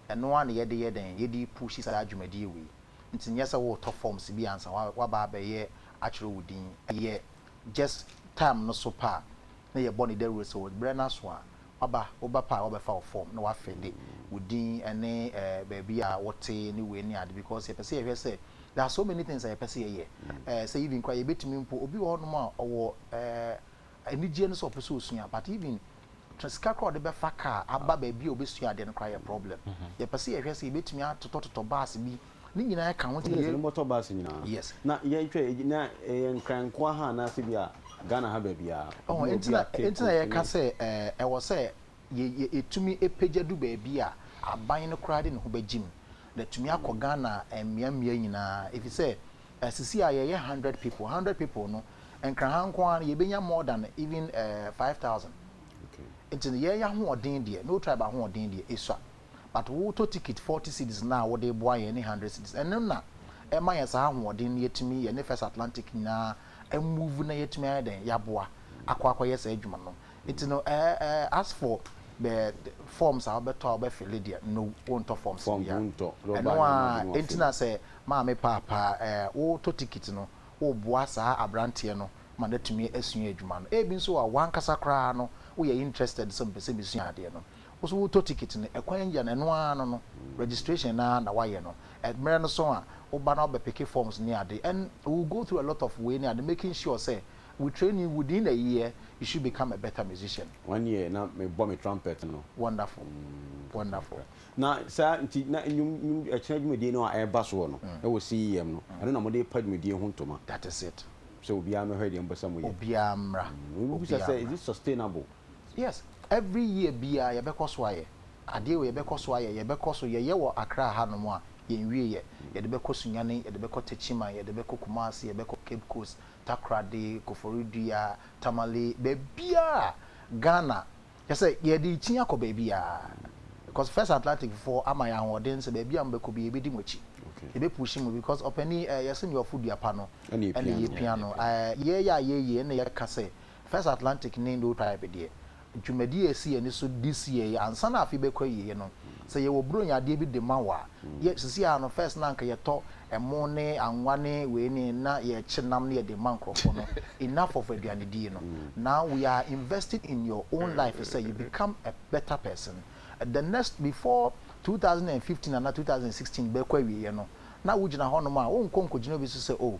ɛno ara na yɛde yɛ dɛn? Yɛde repushi saa dwumadie wei. Nti nyɛ sɛ woretɔ forms bi ansa woaba abɛyɛ atwerɛ wo din. Ɛyɛ just time no so pɛ a na yɛbɔ no dawuro sɛ berɛ no aso a, waba, wo ba pa a wabɛfa wo fɔm na wafede wo din ne eh, baabi a wote ne wei ne ade because yɛpɛ sɛ yɛhwɛ sɛ there are so many things a yɛpɛ sɛ yɛyɛ eh, sɛ even koraa yɛbɛtumi mpo, obi wɔ hɔnom a ɔwɔ eh, anigyeɛ no sɛ ɔpɛ sɛ ɔsua but even tra- sika koraa a ɔde bɛfa kaa aba baabi a ɔbɛsua adeɛ no koraa yɛ problem yɛpɛ sɛ yɛhwɛ sɛ yɛbɛtumi atotɔtotɔ bus bi Ne nyinaa ka ho nti. Yes, ne bɔtɔ bus nyinaa. Yes. Na yɛn twɛ na yɛ nkran nkoa ha na se bi a Ghana ha baabi a. Oh, entina entina yɛ ka sɛ ɛɛ ɛwɔ sɛ yɛ yɛ etumi epagya du baabi a aban no koraa de ne ho bɛgyim na tumi akɔ Ghana mmea mmea nyinaa efisɛ sisi a yɛyɛ hundred people hundred people no nkran ha nko ara no yɛbɛnya more than even ɛɛ five thousand. Okay. Nti yɛyɛ ahoɔden deɛ no tribe ahoɔden deɛ esua. but wo tɔ ticket forty cedis no a wo de boa yɛn ne hundred cedis ɛno na ɛma yɛn saa ahoɔden no yɛtumi yɛ ne first Atlantic nyinaa a move na yɛtumi ayɛ dɛn yɛaboa akɔ akɔ yɛ saa adwuma no nti no ɛɛ ɛɛ as for the forms a wobɛtɔ a wobɛ fille deɛ no wo ntɔ forms no bia ɛno a ɛnti na sɛ maame paapa ɛɛ wo tɔ ticket no wo boa saa abranteɛ no ma no atumi asua adwuma no ɛbi nso a wankasa koraa no wo yɛ interested sɛ mpɛ sɛ mesua adeɛ no Wo so wotɔ ticket no ɛkwan yia no ɛno ara no no registration no ara na wayɛ no ɛmmerɛ no so a woba na wobɛ picke forms ne ade and we will go through a lot of wei ne ade making sure sɛ we train you within a year you should become a better musician. One year na me bɔ me trumpet no. Wonderful wonderful. Na saa nti na nnwom nnwom ɛkyena dwumadie no a ɛreba soɔ no ɛwɔ CEM no ɛno na mode pa dwumadie ho ntoma. That is it. Sɛ obiara mmɛhwɛ deɛ mopɛ sɛ moyɛ. Obiara mmra. Obiara mmra. Mebisa sɛ is it sustainable? Yes every year biaa yɛbɛkɔ so ayɛ adeɛ wei yɛbɛkɔ so ayɛ yɛbɛkɔ so yɛyɛ wɔ Accra ha nom a yɛnwie yɛ yɛde bɛkɔ Sunyani yɛde bɛkɔ Techiman yɛde bɛkɔ Kumasi yɛbɛkɔ Cape Coast Takoradi Koforidua Tamale baabiaa Ghana kyerɛ sɛ yɛde rekyin akɔ baabiaa because First Atlantic foɔ ama yɛn ahoɔden sɛ baabiaa mobɛkɔ biaa yɛbɛdi mo akyi yɛbɛ pushi mo because ɔpanin ɛɛ yɛse nea ɔfo dua pa no ɛna yɛpia no ɛɛ yɛyɛ a yɛyie ɛna yɛka sɛ First Atlantic ne Indo Tribe deɛ, dwumadie a ɛsi yɛn ani so this year yi, ansa na afe bɛkɔ awieɛ no, sɛ yɛwɔ Buronya adeɛ bi de ma wo a, yɛ, seesei ara no, first na anka yɛtɔ ɛmo ne anwa ne wei ne, na yɛkye nam na yɛde ma nkorɔfoɔ no, enough of aduanedie no. Now we are investing in your own life sɛ you become a better person. The next, before two thousand and fifteen anaa two thousand and sixteen bɛkɔ awieɛ no, na wogyina hɔnom a, wonkɔ nkɔgyina obi so sɛ, oh,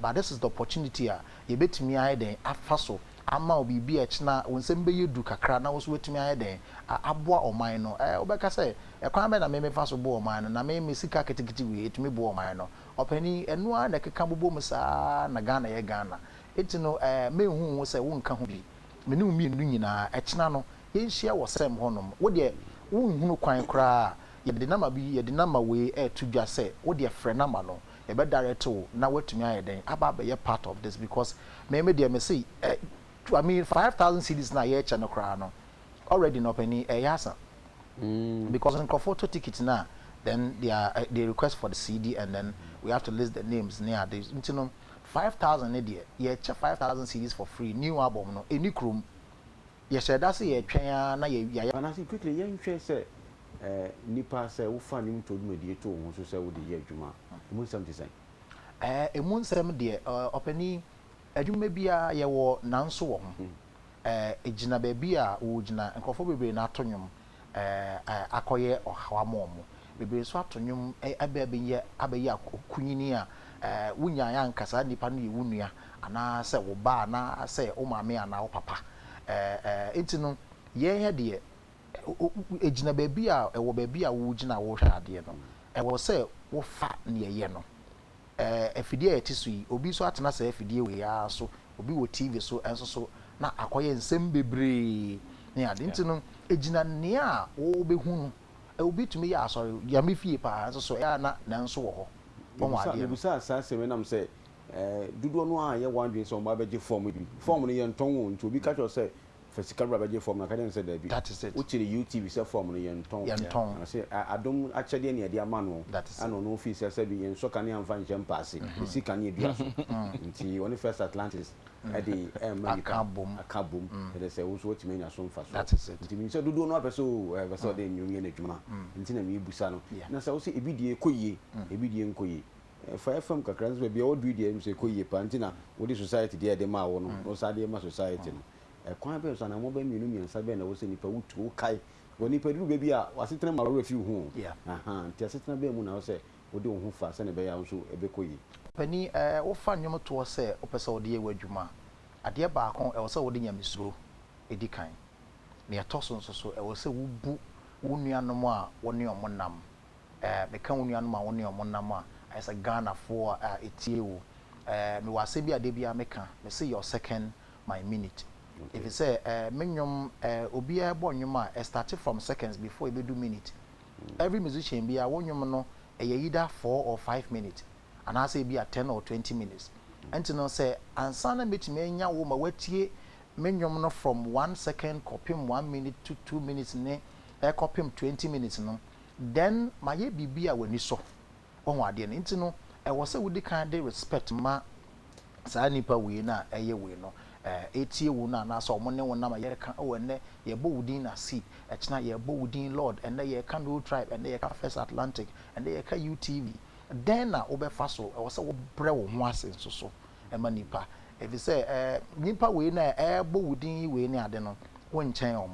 But this is the opportunity a yɛbɛtumi ayɛ dɛn afa so ama wo biribi a ɛkyena wo nsam bɛyɛ duru kakra na wo nso woatumi ayɛ dɛn aboa ɔman no. Ɛɛ wobɛka sɛ ɛkwan bɛn na me mefa so boa ɔman no na me me sika ketekete wei ɛtumi boa ɔman no. Ɔpanin ɛno ara na ɛkeka bobɔ mu saa ara na Ghana yɛ Ghana nti no ɛɛ menhu wo sɛ wonka ho bi. Me ne wo mmienu nyinaa ɛkyena no yɛnhyia wɔ sɛm hɔ nom. Wo deɛ wonhunu kwan koraa a yɛde number bi yɛde number wei ɛɛto dwa sɛ wo deɛ frɛ number no yɛbɛ direct wo na woatumi ayɛ dɛn aba abɛyɛ part of this because me me deɛ mese eh I mean five thousand cedis no a yɛrekyɛ no koraa no already no ɔpanin ɛyɛ asa because nkurɔfoɔ tɔ ticket no a then they are eh, they request for the CD and then we have to list the names ne ade nti no five thousand ne deɛ yɛkyɛ five thousand cedis for free new album no ɛni kurom. Yɛhyɛ da sɛ yɛtwɛn ara na yɛawia yɛn. Anaasɛ quickly yɛnhwɛ sɛ nnipa sɛ wofa ne mu to dwumadie to wo ho so sɛ wode yɛ adwuma a, ɛmu nsɛm te sɛn? Ɛmu nsɛm deɛ, ɔpanin, adwuma biara yɛwɔ nanso wɔ ho. Ɛgyina baabi a wogyina, nkurɔfoɔ bebree na ato nnwom, akɔyɛ ɔhaw ama wɔn. Bebree nso ato nnwom bɛ bɛyɛ abɛyɛ akunini a wonyaeɛ anka saa nipa no yɛ wo nua anaa sɛ wo ba anaa sɛ wo maame anaa wo papa. Nti no yɛn ha deɛ ɛgyina baabi a ɛwɔ baabi a wogyina a worehwɛ adeɛ no ɛwɔ sɛ wofa deɛ ɛyɛ no afidie a yɛte so yi, obi nso atena saa afidie wei ara so, obi wɔ TV so nso so, na akɔyɛ nsɛm bebree ne ade. Nti no, ɛgyina nea wobɛhu no. Obi tumi yɛ asɔre, Nyame fie pa ara, nso so ɛyɛ a na nanso wɔ hɔ. Wahu adeɛ no. Mebisaa saa asɛm yi nam sɛ dodoɔ no ara nyɛ wɔn adwene sɛ wɔbɛgye fɔm bi. Fɔm no, yɛntɔn o. Nti obi ka kyerɛ wo sɛ Fa sika bra bɛgye fɔm no, aka kyerɛ no sɛ daabi. That is it. Wokyere UTV sɛ fɔm no yɛntɔn. Yɛntɔn. Na ɔse a adom akyɛdeɛ ne yɛde ama no. That is it. Ɛna ɔno ofii sɛ sɛbi yɛnsɔ kanea mfa nhyɛ mpaase, ɛsi kanea dua so. Nti ɔne First Atlantis de ɛrema nipa. Aka abom. Aka abom. Kyerɛ sɛ wo nso woatumi anya so mfasoɔ. That is it. Nti menim sɛ dodoɔ no ara pɛ sɛ oo ɛɛ pɛ sɛ ɔde nnwom yɛ n'adwuma. Nti na merebisa no. Yeah. Na sɛ wo sɛ ebi deɛ ɛkɔ yie, ebi deɛ ɛnkɔ yie. Fa fam kakra nso baabi a ɔduru deɛ ɛmu sɛ ɛkɔ yie paa nti na wode society deɛ a yɛde maa wo no na wo san de rema society no. Ɛkwan bɛn so, anammɔn bɛn, mmienu, mmiɛnsa bɛn na ɛwɔ sɛ nipa wo tu? Wokae wɔ nipa duru bɛ bi a w'asetena mu awerɛ fi wo ho o. Nti asetena bɛn mu na ɛwɔ sɛ wode wo ho fa sɛnea ɛbɛyɛ a wo nso ɛbɛkɔ yie? Panin, Ɛɛ, wofa nnwom toɔ sɛ wopɛ sɛ wode yɛ w'adwuma a, adeɛ baako, ɛwɔ sɛ wode nyamesuro di kan. Nea ɛtɔ so nso so, ɛwɔ sɛ wobu wo nuanom a wo ne wɔn nam Eh, meka wo nuanom a wo ne wɔn nam a, ayɛ sɛ Ghanafoɔ a ɛtie wo. Eh, mewɔ asɛm bi a da biara meka, mese your second, my minute. Ɛfiri sɛ, eh, me nnwom, eh, obiara ɛbɔ nnwom a, ɛ starte from seconds before ɛbɛdu minute. Every musician biara, wo nnwom no, ɛyɛ either four or five minute, anaasɛ ɛbi a ten or twenty minutes. Ɛnti no, sɛ ansa na mɛtumi anya wo ma woatie me nnwom no from one second kɔpem one minute to two minutes ne ɛkɔpem twenty minutes no, then mayɛ biribi a w'ani sɔ. Wahu adeɛ no nti no, ɛwɔ sɛ wodi kan de respect ma saa nipa wei no a ɛyɛ wei no, ɛretie wo no anaasɛ wɔn ne wo nam a yɛreka, oh ɛnnɛ yɛbɔ wo din Nasib, ɛkyena yɛbɔ wo din Lord, ɛnnɛ yɛreka No Tribe, ɛnnɛ yɛreka First Atlantic, ɛnnɛ yɛreka UTV. Dɛn na wobɛfa so? Ɛwɔ sɛ wobrɛ wo ho ase nso so ma nipa, efisɛ nipa wei no a ɛrebɔ wo din yi wei ne ade no, wonkyɛn wɔn.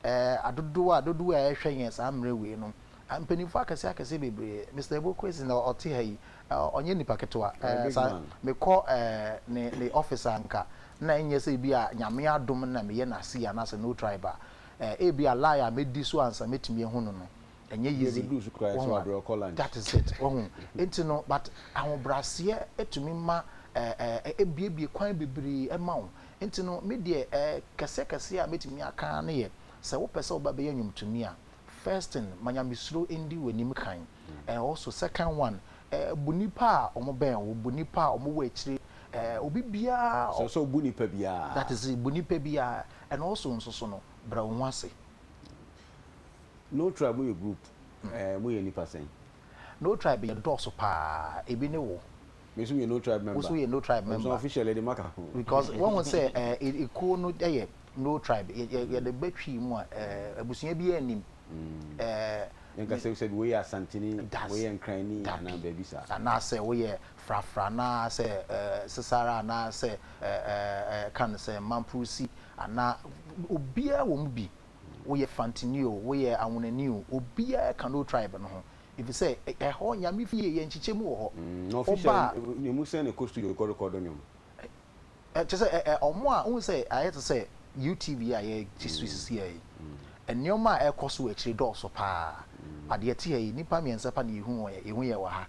Ɛɛ adodow a dodow a ɛhwɛ yɛn saa mmerɛ wei no, mpanyinfoɔ akɛseɛ akɛseɛ bebree, Mister Ebokwesi na ɔte ha yi, ɔnyɛ nipa ketewa, ɛɛ me kɔ ɛɛ ne ne office a nka na ɛnyɛ sɛ ebi a Nyame adom na me yɛ n'ase anaa sɛ no tribe a, ɛɛ ebi a line a mɛdi so ansa mɛtumi ahu no no, ɛnyɛ easy, wahu a, that is it, wahu, nti no but ahobraseɛ tumi ma ɛɛ ɛɛ ɛbue bue kwan bebree ma wo, Nti no, me deɛ eh, kɛseɛ kɛseɛ a mɛtumi aka ara ne yɛ, sɛ wopɛ sɛ woba bɛyɛ nnwomtoni a, first thing, ma Nyamesuro ndi w'anim kan, and also second one, eh, bu nnipa a wɔbɛn wo, bu nnipa a wɔwɔ akyire, eh, obi biara a. Sɛ sɛ wobu nnipa biara. That is it, bu nnipa biara, and also nso so no, brɛ wo ho ase. No Tribe moyɛ group, eh, moyɛ nnipa sɛn? No Tribe yɛdɔɔso paa, ebi ne wo. Me nso meyɛ no tribe member. Wo nso woyɛ no tribe member. Ɛbusua official yɛde maka ho. Because wɔn sɛ ɛɛ ekuo no yɛ no tribe yɛ yɛ yɛde bɛ twi mu a ɛɛ abusua bi yɛ nim. Ɛɛ. Yɛn ka sɛ sɛbi woyɛ asantini. Das. Woyɛ nkrani anaa baabi saa. Anaa sɛ woyɛ frafra anaa sɛ ɛɛ sesara anaa sɛ ɛɛ ɛɛ kan no sɛ mampurusi anaa obiara wɔ mu bi. Woyɛ fantini o woyɛ awonani o obiara ka no tribe no ho Efisɛ ɛhɔ, Nyame fie, yɛ nkyekyɛ mu wɔ hɔ. Na ɔfi hyɛ ne mu sɛn ne kɔ studio kɔ rekɔdo nnwom. Kyerɛ sɛ ɔmo a wohu sɛ ayɛ te sɛ UTV a yɛ gye so sisi ha yi. Nneɛma a ɛkɔ so wɔ akyire dɔɔ so paa. But deɛ ɛte ha yi, nnipa mmiɛnsa pa na yɛ hu wɔn yɛ, yɛ hu yɛ wɔ ha.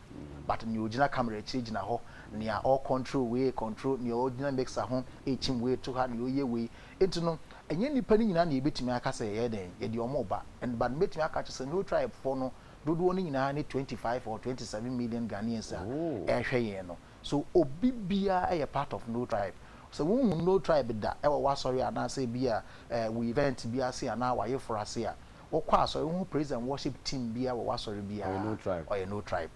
But nea ɔgyina camera akyire gyina hɔ, nea ɔ control wei control, nea ɔgyina mixer ho rekyim wei to ha, nea ɔyɛ wei, Enti no, ɛnyɛ nnipa no nyinaa na yɛbɛtumi aka sɛ yɛyɛ dɛn? Yɛde wɔn reba. And but mɛtumi aka akyerɛ sɛ Nul tribefoɔ no dodoɔ no nyinaa ne twenty five or twenty seven million Ghanaians a ɛrehwɛ yɛn no. So obi biara yɛ part of Nul tribe. Sɛ wohunu Nul tribe da wɔ w'asɔre anaasɛ ebia eh, wo event bi ase anaa w'ayeforo ase a, wokɔ asɔre, wohu praise and worship team biara wɔ w'asɔre biara Ɔyɛ a, Nul tribe. ɔyɛ Nul tribe.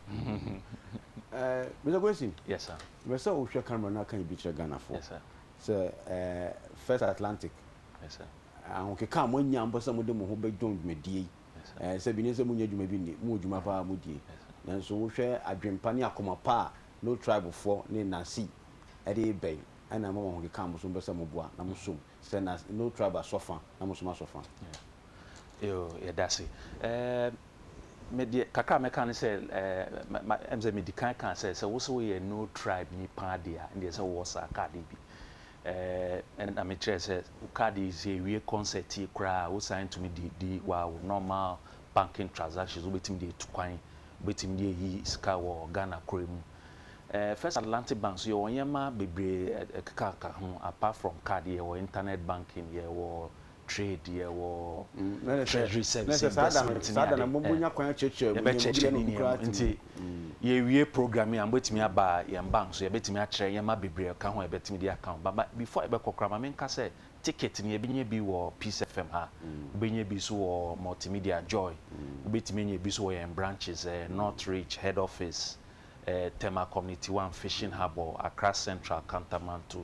Eh, Mister Kwesi, Yes, sir. mepɛ sɛ wohwɛ camera no aka biribi kyerɛ Ghanafoɔ. Yes, sir. Sɛ First Atlantic ahokeka a moanya mpo sɛ mode mo ho bɛdwo dwumadie yi, sɛ bi ne sɛ monnya dwuma bi nni, mowɔ dwuma paa a modie, nanso wohwɛ adwenpa ne akoma pa a no tribe foɔ ne Nancy de reba yi, ɛna ɛma mo ahokeka a mo nso mopɛ sɛ moboa na mosom sɛ no tribe asɔ fa na mosom asɔ fa. Yoo, yɛdase. Me deɛ kakra a mɛka ne sɛ ɛɛ ɛm sɛ medi kan kaa sɛ sɛ wosɛ woyɛ no tribe nipa adeɛ a ɛndeɛ sɛ wowɔ saa card yi bi ɛɛ ɛna mekyerɛ sɛ wo card yi sɛ ewie concert yi koraa a wosan tumi de di wa wo normal banking transactions wobɛtumi de etu kwan wobɛtumi de eyi sika wɔ Ghana koro mu ɛɛ First Atlantic Bank so yɛwɔ nneɛma bebree ɛkeka ka ho apart from card yɛwɔ internet banking yɛwɔ Twedeɛ wɔ Treasury Service Investment ne ade ɛ, yɛbɛkyɛkyɛ ne nneɛma. Nti yɛwie program yi a mobɛtumi aba yɛn bank so, yɛbɛtumi akyerɛ nneɛma bebree a ɛka ho a yɛbɛtumi de aka ho. But ma before yɛbɛkɔ koraa ma menka sɛ ticket no yɛbɛnya bi wɔ Peace FM ha, wobɛnya bi nso wɔ Multimedia Joy, wobɛtumi anya bi nso wɔ yɛn branches ɛ, North Ridge Head Office, ɛ, Tema Community One, Fishing Harbour, Accra Central, Kantamanto,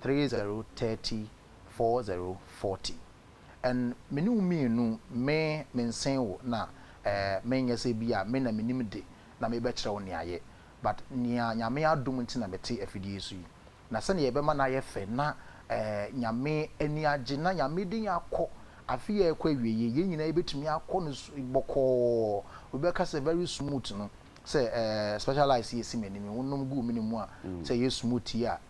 three zero thirty four zero forty and me ne wo mmienu me me nsen wo na eh me nyɛ sɛ bi a me na me nim de na me bɛ kyerɛ wo nea yɛ but nea nyame adom nti na me te afidie yi so yi na sɛnea yɛ bɛ ma no ayɛ fɛ na eh nyame ani agye na nyame de yɛn akɔ afe yi a ɛkɔ awieɛ yɛn nyinaa yɛ bɛ tumi akɔ no bɔkɔɔ obi bɛ ka sɛ very smooth no sɛ eh specialized yɛ si m'anim wo nom guu me ne mu a sɛ yɛ smooth yi a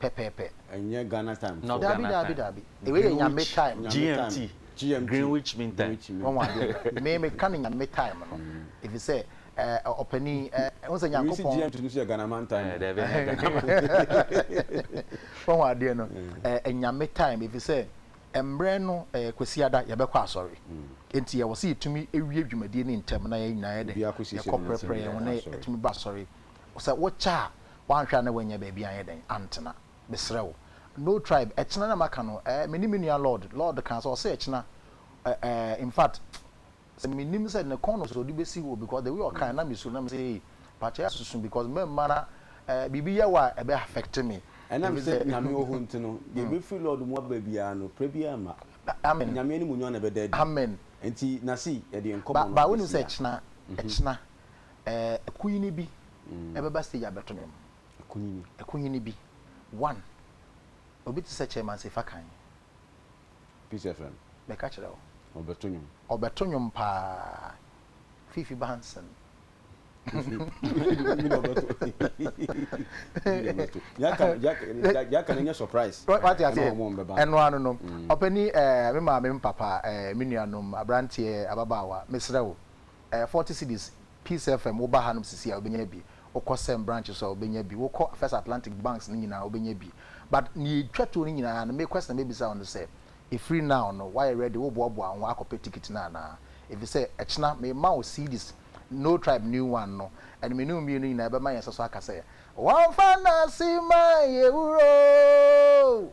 pɛpɛɛpɛ. Ɛnyɛ Ghana time foɔ. Daabi daabi daabi wei yɛ nyame time. GMT, Greenwich mean time. Wahu adeɛ no, me me ka no nyame time no efisɛ ɛɛ ɔpanin ɛɛ n sɛ Nyankopɔn. Wei si GMT no so yɛ Ghanaman time. Ɛɛ daabi ɛnyɛ Ghanaman. Wahu adeɛ no, ɛɛ nyame time efisɛ ɛmbrɛ no ɛɛ Kwasiada yɛ bɛ kɔ asɔre nti yɛ wɔ sɛ yɛ tumi ewie dwumadie no ntɛm na yɛ nyinaa yɛ dɛ yɛ kɔ prɛprɛ yɛn ho na yɛ tumi ba asɔre sɛ wokyɛ a woanhwɛ a na woanya baabi anyɛ dɛn antena mesrɛ wo no tribe ɛkyena na maka no eh me ne me nua lord lord kaa sɛ ɔse ɛkyena eh eh infact sɛ menim sɛ ne kɔn no sɛ ɔde bɛsi hɔ because the way ɔkaa na mesuro na mesɛ ei pakyɛ yɛ asusu because mɛmma na eh biribi yɛ wɔ a ɛbɛ affect me ɛnam sɛ nyame wɔ hɔ nti no deɛ ɛbɛfiri lord mu aba biara no prɛ biara mma amen nyame animuonyam na ɛbɛda adi amen nti na sei yɛde nkɔmmɔ no ba ba wonim sɛ ɛkyena ɛkyena Ɛɛ Kunyini bi ɛbɛba stage abɛto nwom. Kunyini. Kunyini bi. One. Obi te sɛ Chairman Sefa Kan. Peace FM. Mɛka kyerɛ wo. Ɔbɛto nwom. Ɔbɛto nwom paa. Fifi Banson. Mi na ɔbɛto. Mi na ɔbɛto. Yaka yaka yaka na nyɛ surprise. Wati ase. Ɛna wɔn bɛba. Ɛno ano no. Ɔpɛni ɛɛ mi maame mi papa ɛɛ mi nuanom aberanteɛ ababaawa mesrɛ wo. ɛyɛ forty cedis, Peace FM wo ba hanom sisi a wobɛnya bi, wokɔ Sem branch nso a wobɛnya bi, wokɔ First Atlantic banks no nyinaa wobɛnya bi. But nea ɛtwa toɔ no nyinaa no, me question a mɛbisa wo ne sɛ, ɛfiri now no woayɛ ready, woboaboa wo ho akɔpɛ ticket no anaa? Ɛfisɛ ɛkyena mema wo cedis No Tribe New One no, ɛno me ne wo mmienu nyinaa ɛbɛma yɛn nsa so aka sɛ, Wɔmfa Nasima yɛ wura o!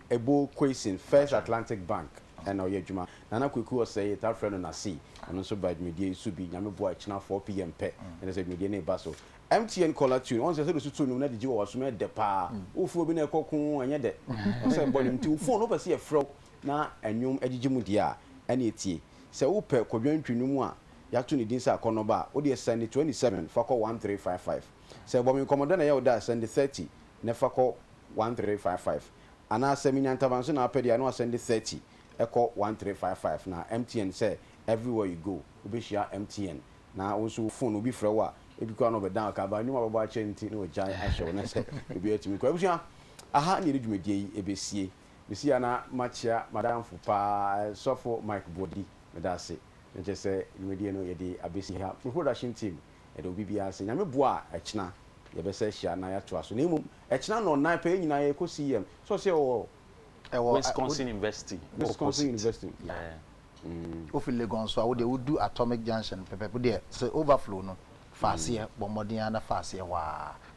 Ebo Quayson, First Atlantic Bank na ɔyɛ adwuma. Nana Kwaku Osei, yɛtaa frɛ no Nasi, ɔno nso baa dwumadie yi so bi, Nyame boa a ɛkyena 4PM pɛ na kyerɛ sɛ dwumadie no reba so. MTN Caller Tune, ɔhu sɛ sɛdeɛ wosutu no mu na de gye wɔ w'asom yɛ dɛ paa. Wofrɛ obi na ɛkɔ ko, ɛnyɛ dɛ. Ɔhu sɛ ɛbɔ dwom nti wo fon, wopɛ sɛ yɛfrɛ wo na nnwom gyegye mu deɛ a, ɛne ɛtie. Sɛ wopɛ kɔdwantwi nnwom a yɛato ne din sɛ akɔnnɔba a, wodeɛ sɛnde 27 fa kɔ 1355. Sɛ bɔ me nkɔmmɔ dɛ na ɛyɛ wo dɛ a, sɛnde 30 na fa kɔ one three five five anaa sɛ menya ntaban so na wapɛ deɛ a na wasɛnde thirty kɔ one three five five na MTN sɛ everywhere you go wobɛhyia MTN na wo nso wo phone obi frɛ wo a ebi koraa na ɔbɛ down ka ba nnwuma a wabɔ akyɛ nti na wagyae ahyɛ wo na sɛ obiara tumi kɔ abusua aha na yɛde dwumadie yi ɛbɛsie mesi a na makyea madamfo paa sɔfo Mike Boadi meda ase na kyerɛ sɛ dwumadie no yɛde abɛsi ha me production team Ɛda obi biara ase. Nyame boa a, ɛkyena yɛbɛsa ahyia na yɛatoa so. Na mmom, ɛkyena nnɔnnan pɛ, yɛn nyinaa yɛkɔ CEM. Sɛ ɔse ɔwɔ. Ɛwɔ a, wo. Wisconsin University wɔ Posit. Wisconsin University mu, yeah. Mm. Wofi Legon nso a, wo deɛ wodu Atomic Junction pɛpɛɛpɛ. Wo deɛ, sɛ overflow no, fa aseɛ. Bɔ mmɔden ara na fa aseɛ hɔ ara.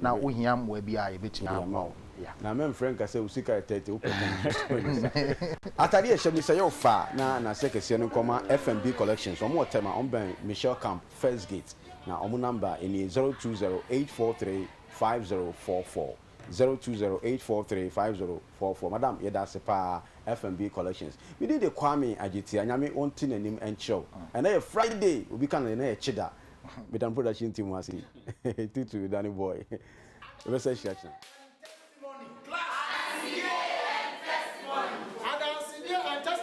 Na wo hia mmoa bi a yɛbɛtumi aboa wo. Yeah. Na me mfrɛ nka sɛ wo sika yɛ thirty wo pɛ ka me so ne sa. Ataadeɛ a ɛhyɛ me sɛ yɛ wo faa na n'aseɛ kɛseɛ no nkɔma FMB Collections wɔn wɔ Tema wɔn bɛn Michelle Camp first gate na wɔn number nie zero two zero eight four three five zero four four zero two zero eight four three five zero four four madam yɛda ase paa FMB Collections me din de Kwame Adzetia Nyame ɔnte n'anim nkyerɛ wo ɛnɛ yɛ Friday obi ka no deɛ na yɛ kyeda Metam production team ase yi. Tutu Danny boy. Ebe sɛ hyira kyina.